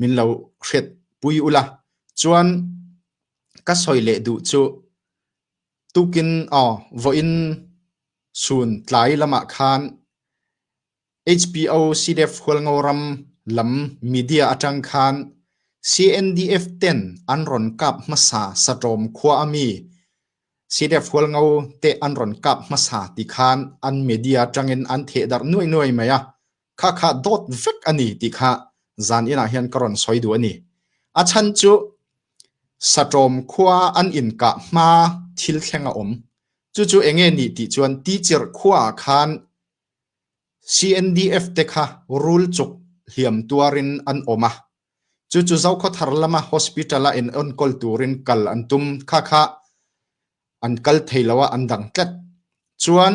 Min lo hretpui ula, cun ka soi leh duh cuh. Tukin aw voin suun tlai lamah khan HBO CDF hualngo ram lam media atang khan CNDF ten an ron kap hmasa saṭawm khua ami CDF hualngo te an ron kap hmasa ti khan an media tangin an thehdarh nuai nuai mai a. Khakha dawt vek ani ti kha zan in ah hian ka ron soi du ani. A chan cu Satawm khua an in ka hma thil thleng a um. Cu cu enge ni ti chuan teacher khua khan CNDF te kha rul chuk hliam tuarin an oma. Chu chu zokho thar lama hospital a in on kol turin kal an tum kha kha an kal theiloa an dang tlet. Chuan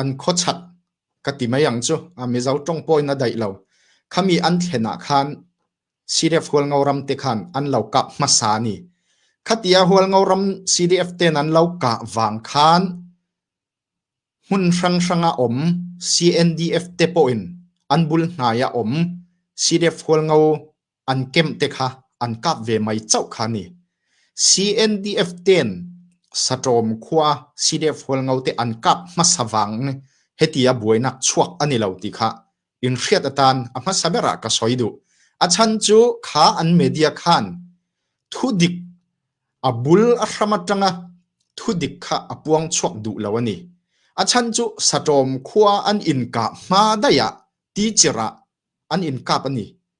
An khuachak, ka ti mai ang cu, Mizo ṭong pawi na daih lo. Khami an thlen ah khan CDF hualngo ram te khan an lo kah hmasa ni. Khati a hualngo ram CDF ten an lo kah vang khan hmun hranghrang a um. CNDF te pawh in an bul hnai a um. CDF hualngo An kemh te kha an kap ve mei coh kha ni. CNDF ten Saṭawm khua sidehfual ngo te an kap hmasa vang ni heti a buainak chuak ani lo ti kha in hriat atan a hmasa ber ah ka soi duh. A chan cu kha an media khan thudik a bul a hram atanga thudik kha a puang chuak duh lo ani. A chan cu Saṭawm khua an in kap hma daiah ti cirah an in kap ani.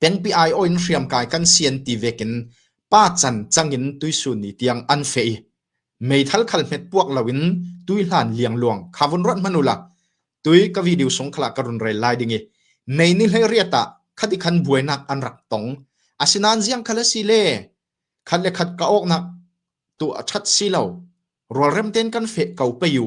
Pengpi aiawh in hriamkai kan si an ti vek in pa can cang in tuisun i tiang an feh i meithal khal hmet puak loin tuihlan liangluang kha vun ruat hmanh ula tui ka video sung khalah ka run rel lai ding i mei ni hleiriat ah khati khan buainak an rak tong. Asinain ziang khal a si le khat le khat ka awknak tu a ṭhat si lo. Rualrem tein kan feh ko pei u.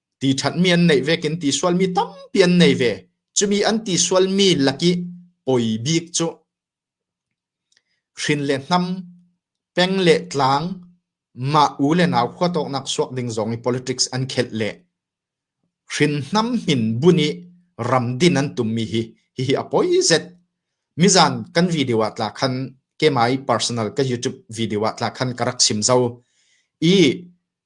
ti ṭhatmi an neih ve kin ti sualmi tampi an nei ve. Cumi an ti sualmi lak i poi bik cu hrin le hnam, peng le tlang, mah u le nau khua tawknak suak ding zong i politics an khelh le hrin hnam hin bun i ram din an tummi hi hihi a poi zet. Mizan kan video ah tla khan ke mai personal ka YouTube video ah tla khan ka rak sim zo i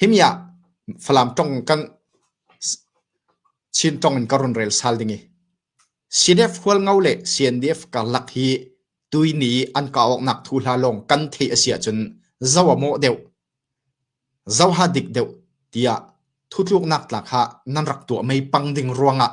Himi ah Falam tong in kan Chin tong in ka run rel sal ding i CDF hualngo le CNDF karlak hi tuini i an ka awknak thu hla lawng kan theih a si ahcun zoh a mawh deuh, zoh ha dik deuh tiah thutluknak tlak ha nan rak tuah mei pang ding ruangah.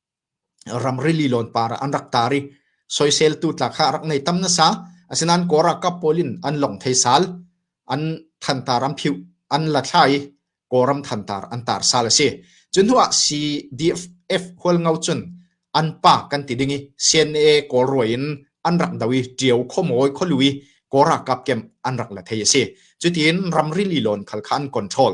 ramri lilawn par ah an rak tar i soiseltu tla kha a rak ngei tam nasa. Asinain Kawl ralkap pawl in an lawng thei sal. An thantar an phiuh, an la thla i Kawlram thantar an tar sal a si. Cu hnu ah CDF hualngo cun an pa kan ti ding i CNA Kawl ruai in an rak do i ṭio khomawi kholui Kawl ralkap kem an rak la thei a si. Cutiin ramri lilawn khal kha an control.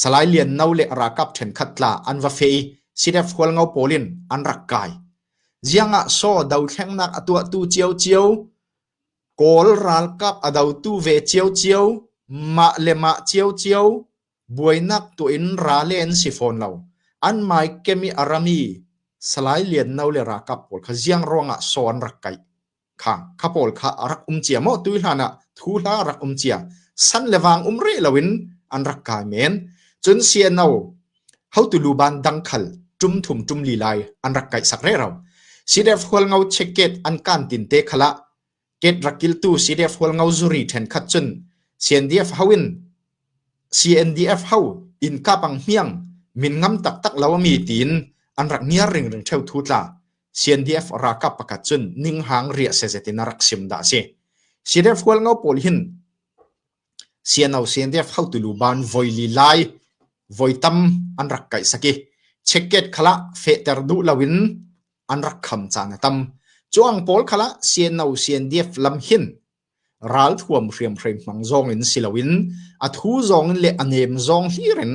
Salai Lian No le ralkap ṭhenkhat tla an va feh i CDF hualngo pawl in an rak kai. Ziang ah saw dothlengnak a tuahtu ciocio, Kawl ralkap a dotu ve ciocio, mah le mah ciocio, buainak tuah in ra le an si fawn lo. An maikem i a rami Salai Lian No le ralkap pawl kha ziang ruangah saw an rak kaih? Kha pawl kha a rak um cia maw? Tui hlan ah thu hla rak um cia. San le vang um rih loin an rak kai men. Cun sia no hotu luban dangkhal tum thum tum li lai an rak kaih sak re ro. Sidef hualngo checket an kan tin te khala ket rakiltu sidef hualngo zuri then khat cun CNDF hawin CNDF hau in kapang hmiang min ngam tak tak lo mi tin an rak niar ring ring theu thu tla CNDF ralkap pakhat cun ninghang riah sezetin a rak sim dah a si. CNDF hualngo pawl hin CNO CNDF haotu lu ban voi li lai voi tam an rak kai saki checket khala fehter duh loin an rak kham caan a tam. Cuang pawl khala CNO CNDF lam hin ralthuam hriamhrei hmang zong in si loin a thu zong in le a nem zong hlir in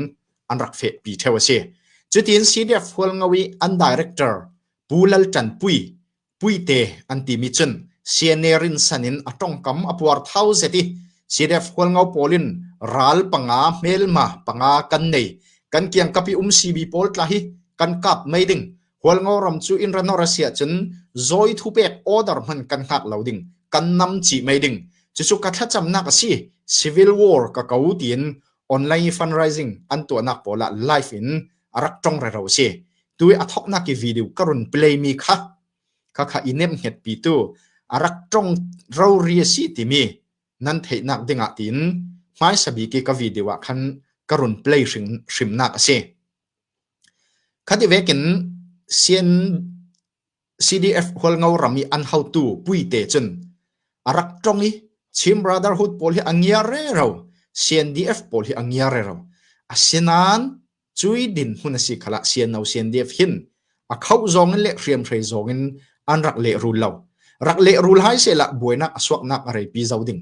an rak fehpi theo a si. Cutin CDF Hualngo i an director Pu Lal Ṭan Pui Puite an timi cun CNA rinsan in a tongkam a puar thau zet i CDF Hualngo pawl in ral panga hmelma panga kan nei kan kiangkapi um CB pawl tla hi kan kap mai ding Hualngo ram cu inn ranor a si ahcun zawi thu pek order hman kan hngak lo ding kan nam ci mei ding cucu ka thlacamnak a si civil war ka ko tiin online fundraising an tuahnak pawl ah live in a rak tong rero a si tu i a thoknak i video ka run play mi kha kha kha i nem het pi tu a rak tong ro ri a si timi nan theihnak ding ah tiin hmai sabi ke ka video ah khan ka run play hrim hrimnak a si Khati vekin CNCDF hualngo ram i an hotu puite cun a rak ṭong i Chin Brotherhood pawl hi a ngia rero, CNDF pawl hi a ngia rero. Asinain cui dinhmun a si khalah CNO CNDF hin a khoh zongin le hriamhrei zongin an rak lehrul lo. Rak lehrul hai selah buainak a suaknak a reipi zo ding.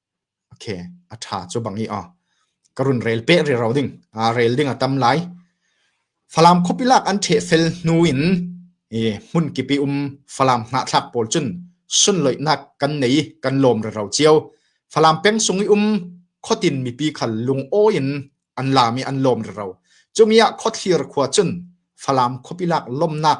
Ok, a ṭha cu bang i aw, ka run rel peh riro ding. Aa rel ding a tam lai. Falam khuapi lak an ṭheh fel hnu in i hmun kip i um Falam hnahthlak pawl cun sunloihnak kan nei i kan lawm riro cio. Falam peng-sung i um khuatin mipi khal lungawi in an laam i an lawm riro. Cumi ah Khuathlir khua cun Falam khuapi lak lawmnak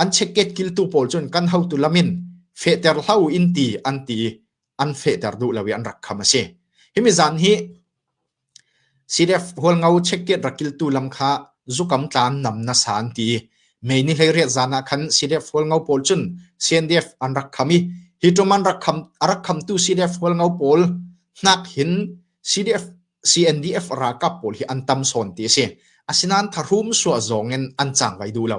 an cheket kiltu pawl cun kan hotu lam in fehter hlau in ti an ti an fehter duh lo i an rak kham a si himi zan hi CDF hualngo cheket rakiltu lam kha zukam tlan nam na san ti mei ni hlei riat zan ah khan CDF hualngo pawl cun CNDF an rak kham i hi tum an rak kham arak khamtu CDF hualngo pawl hnak hin CDF CNDF ralkap pawl hi an tam sawn ti a si asinan tharum suwa zong in an chang vai du lo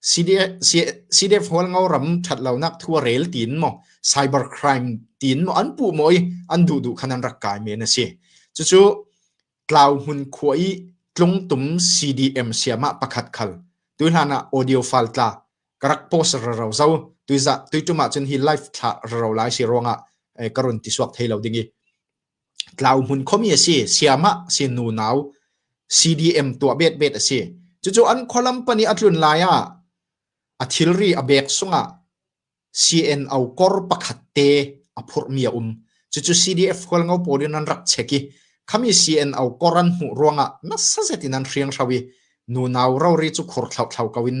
CDF Hualngo ram ṭhatlonak thu a rel tiin maw cyber crime tiin maw an puh maw i an duh duh khan an rak kai men a si. Cucu Tlau Hmun khua i tlungtum CDM siamah pakhat khal tui hlan ah audio file tla ka rak post raro zo tui za tui ṭum ahcun hi live thla raro lai si ruangah ka run ti suak thei lo ding i Tlau hmun khomi a si. Siamah sin unau CDM tuah betbet a si. Cucu an khualam pahnih a tlun lai ah a thilri a bek sungah CNO kor pakhat te a phurhmi a um. Cucu CDF khualngo pawl in an rak check i khami CNO kor an hmuh ruangah nasa zetin an hrianghro i nunau rori cu khur thlauthlau ko in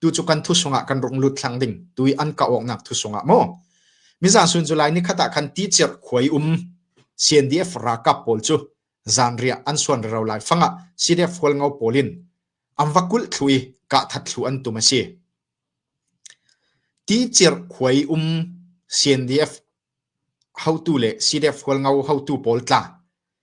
tu cu kan thusung ah kan rung lut thlang ding tu i an ka awk nak thusung ah maw mizan sun July ni khat ah khan ti cer khuai um CNDF rakap pawl cu zan ria an suan ro lai fanga CDF hol ngau polin am vakul thlui ka that thlu an tum asi ti cer khuai um CNDF hautu le CDF hol ngau hautu pawl tla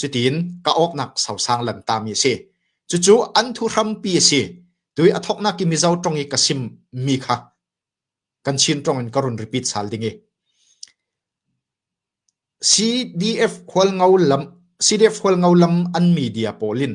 Cutin ka awknak sosang lamtami a si. Cucu an thuhrampi a si. Tui a thawknak i Mizo tong i ka sim mi kha kan Chin tong in ka run repeat sal ding i CDF hual ngo lam CDF hual ngo lam an media pawl in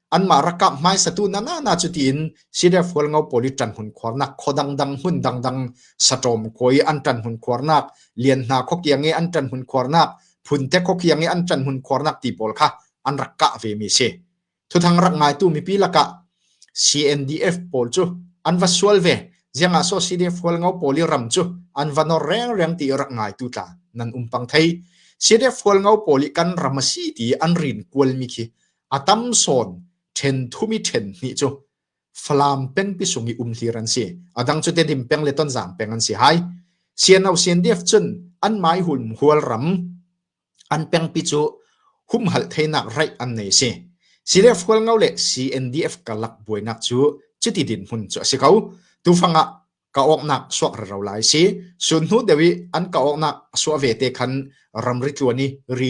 anmah rakap hmaisatu nanana cu tiin Sidefual ngo pawl i ṭan hun khuarnak khaw dangdang hmun dangdang saṭawm khaw i an ṭan hun khuarnak lian hna khawkiang i an ṭan hun khuarnak phunte khawkiang i an ṭan hun khuarnak ti pawl kha an rak kah ve mi si thuthang rak ngaitu mipi lakah CNDF pawl cu an va sual ve ziangah so CDF ngo pawl i ram cu an va nor reng reng ti rak ngaitu tla nan umpang thei CDF ngo pawl i kan ram a si ti an rin kual mi khi A tam sawn ṭhen thumi ṭhen hnih cu Falam pengpi sung i umhlir an si. A dang cu Tedim peng le Tonzang peng an si hai. Sianau Siandiaf cun an mai hun hual ram an pengpi cu humhalh theinak raih an nei si. Siler fual ngau le CNDF kalak buainak cu cuti din hmun cu a si ko. Tufang ah ka awknak suak raro lai si. Sun hnu dewi an ka awknak suah ve te khan ramri tluan i ri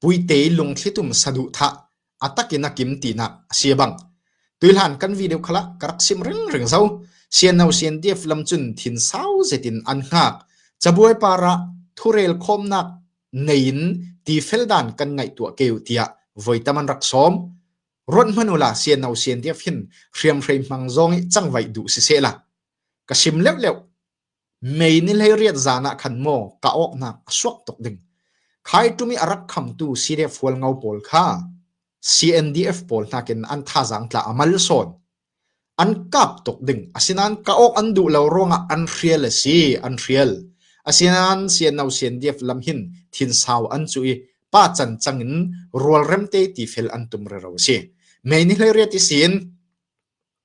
Puite lungthlitum saduhthah a tak in a kim tinak a si bang, tuihlan kan vi deuh kha lah ka rak sim ringring zo. Siano siandief lam cun thinsau zetin an hngak. Cabuai par ah thurel khawmnak nei in tifel dan kan ngaih tuah keu tiah voitam an rak sawm. Ruat hmanh u la siano siandief hin hriamhrei hmang zong i cangvaih duh siseh la. Ka sim leuh leuh. Mei ni hleiriat zan ah khan maw ka awknak a suak tuk ding khaiṭum i a rak khamtu sireh fualngo pawl kha CNDF pawl hnakin an thazaang tla a mal sawn. An kap tuk ding asinain ka awk an duh lo ruangah an hrial a si, an hrial. Asinain CNO CNDF lam hin thinsau an cu i pa cancang in rualrem te ti fel an tum rero a si. Mei ni hleiriat i sin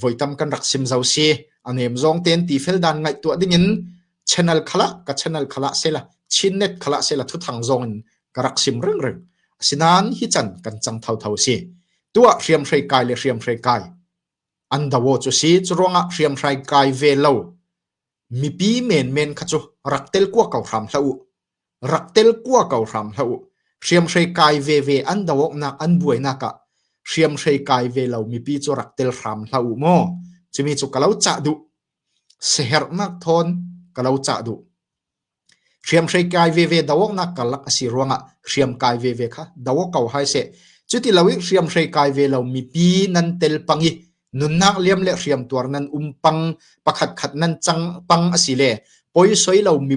voi tam kan rak sim zau si. A nem zong ten tifel dan ngaih tuah dingin channel khala ka channel khala sela Chin net khala sela thuthang zong in ka rak sim reng reng. Asinan hi chan kan chang thau thau si. Tua hriam hrei kai le hriam hrei kai. An dawo chu si chu ruangah hriam hrei kai ve lo. Mipi men men kha chu rak tel kwa kau hram hlau Rak tel kua ko hram hlah uh. Hriamhrei kai veve an do awknak an buainak ah hriamhrei kai ve lo mipi cu rak tel hram hlah uh maw. Cumi cu ka lo cah duh. Siherhnak thawn ka lo cah duh. Hriamhrei kai veve do awknak kalak a si ruangah hriam kai veve kha do ko hai se. Cuti lo i hriamhrei kai ve lo mipi nan tel pang i nunnak liam le hriam tuar nan um pang pakhat khat nan cang pang a si le poisoi lo mi